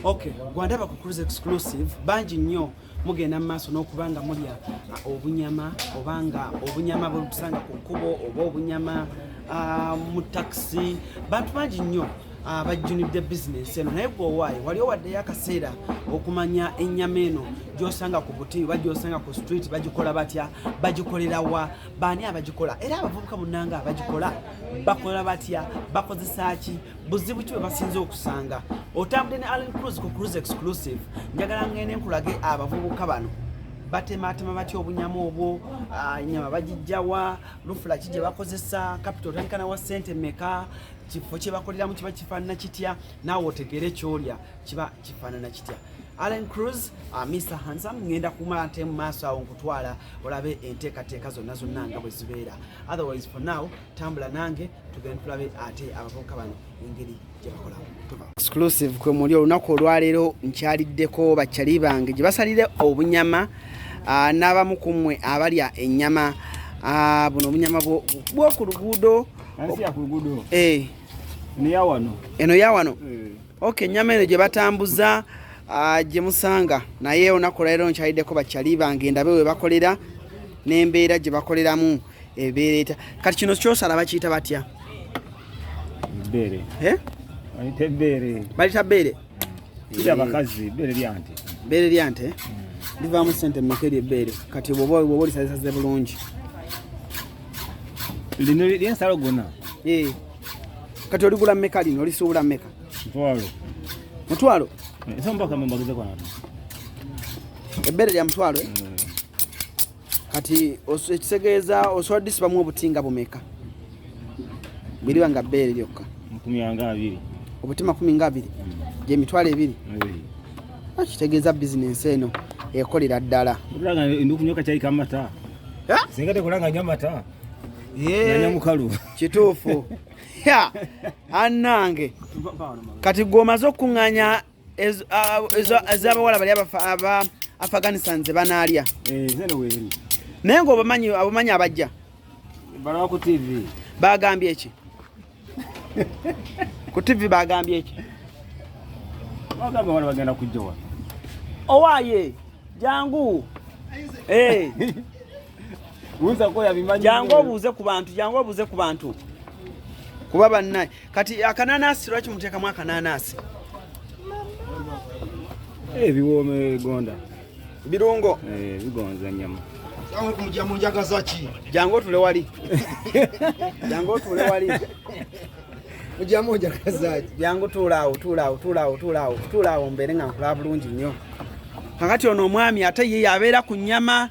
Okay, gwandaba ku Cruise Exclusive bangi nnyo mugenda mu maaso n'okuba nga mulya uh, obunyama oba nga obunyama bwebutusanga ku kkubo oba obunyama uh, mu takisi bantu bangi nnyo uh, bajjunidde bizinensi eno naye gwowaayo wali owaddeyo akaseera okumanya ennyama eno gyosanga ku buti oba gyosanga ku street bagikola batya bagikolera wa baani abagikola era abavubuka munanga abagikola bakola batya bakozesa ki buzibu ki bwebasinza okusanga otambudde ne allen cruz ku cruz exclusive njagala ngende nkulage abavubuka bano batematema batya obunyama obwo ah, nyama bagijjawa lufula ki gye bakozesa kapita otandikana wa sente meka kifo kye bakoleramu kiba kifaanana kitya naawe otegeere kyolya kiba kifaanana kitya allen cruz uh, ah, mr hansam ngenda kumala nte mu maaso awo nkutwala olabe enteekateeka zonna zonna nga bwe zibeera otherwise for now tambula nange tugende tulabe ate abavubuka bano engeri gyebakolamu exclusive kwe muli olunaku olwaleero nkyaliddeko bakyali bange gye basalire obunyama ah, n'abamu ku mmwe abalya ennyama ah, buno obunyama bwoku luguudo eh. eno ya wano eh. ok ennyama eno gye batambuza ah, gye musanga naye olunaku olwaleero nkyaliddeko bakyali bange ndabe we bakolera n'embeera gye bakoleramu ebeereta kati kino kyosala bakiyita batya eh? balita beere abakazi beere lyante beere lyante hmm. livaamu sente mmeka eryo ebbeere kati bwoba olisazisaze bulungi lino lyensalo gona eh. kati oligula mmeka lino olisuubula mmeka mutwalo mutwalo eh, ebeere lya mutwalo hmm. kati ekitegeeza osobola disibamu obutinga bumeka biriba nga bbeere lyokka obuti makumi nga abiri hmm. gyemitwalo ebiri ah, kitegeeza bizinensi eno ekolera ddala kituufu anange kati gwomaze okukuŋŋanya ezabawala bali aba afghanistan zebanalya eh, naye nga obamanyi abamanyi abajja balawaku tv bagambye eki ku tv bagambye eki bagamba wala bagenda kujjawa owaye jangu eh. jangu obuuze ku bantu jangu obuuze ku bantu kuba bannaye Kati akananasi lwaki muteekamu akananasi? Ebiwooma eh, ebigonda birungo eh, bigonza nyama jangu otule wali jangu otule wali jangu tuulaawo tuulaawo tuulaawo tuulaawo tuulaawo mbeere nga nkulaba bulungi nnyo kakati ono omwami ate ye yabeera ku nyama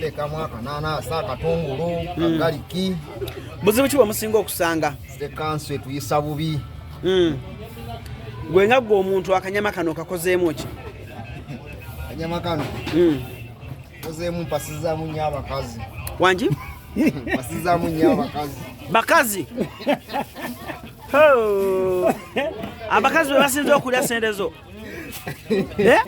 teekamu akananasa akatungulu hmm. kagaliki buzibu ki bwemusinga okusanga ekansu etuyisa bubi hmm. gwe nga gwe omuntu akanyama kano kakozeemu ki akanyama kano hmm. kozeemu mpasizamu nyo abakazi wangi mpasizamu nyo abakazi bakazi abakazi bebasinza okulya sente zo eh?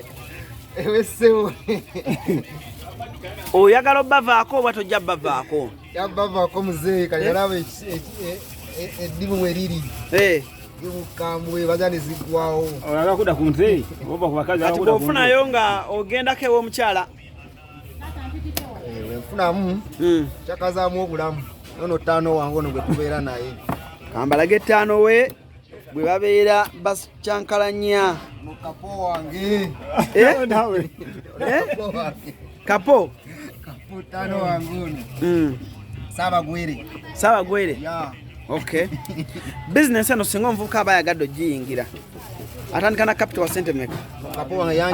oyagala obavaako oba tojja bavaako bavaako muzeeyi kati alaba eh? e- e- e- eddimu weriri mukambwe baja nezigwawo olaba kuda ku nzeeyi oba ku bakazi kati bwofunayo nga ogendako ewomukyala wenfunamu hmm. kyakazamu obulamu nono ttaano wange ono gwe tubeera naye kambalage ttaano we bwe babeera bakyankalanya mu kapo wange eh? eh? kapo kaputano wange ono hmm. saabagwere saabagwere okay bizinensi eno singa omuvubuka aba ayagadde ogiyingira atandika na capital wa sente meka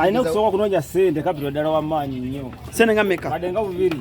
alina okusooka okunoonya sente capital ddala wamaanyi nnyo sente nga meka adde nga bubiri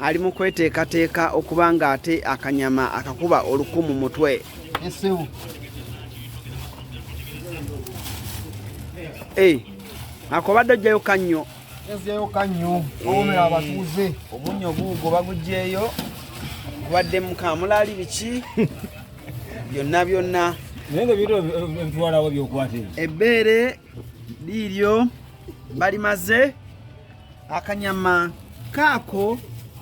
ali mu kweteekateeka okuba ng'ate akanyama akakuba oluku mu mutwe eh, akobadde ojjayo kannyo ezzeeyo kannyo owomera abatuuze omunyo guugo bagugyeyo kubadde mukamulaali biki byonna byonna naye nga bintu ebitwalawo byokwata ebbeere liiryo balimaze akanyama kaako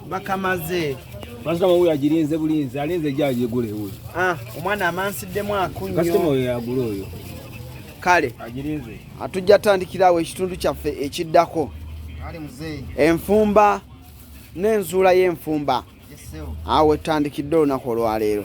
bakamaze mazima wuyo agirinze bulinzi alinze ejja agigule wuyo ah, omwana amansiddemu akunyokasitoma oyo yagula oyo kale atujja tandikirawo ekitundu kyaffe ekiddako enfumba n'enzuula y'enfumba awo etandikidde olunaku olwaleero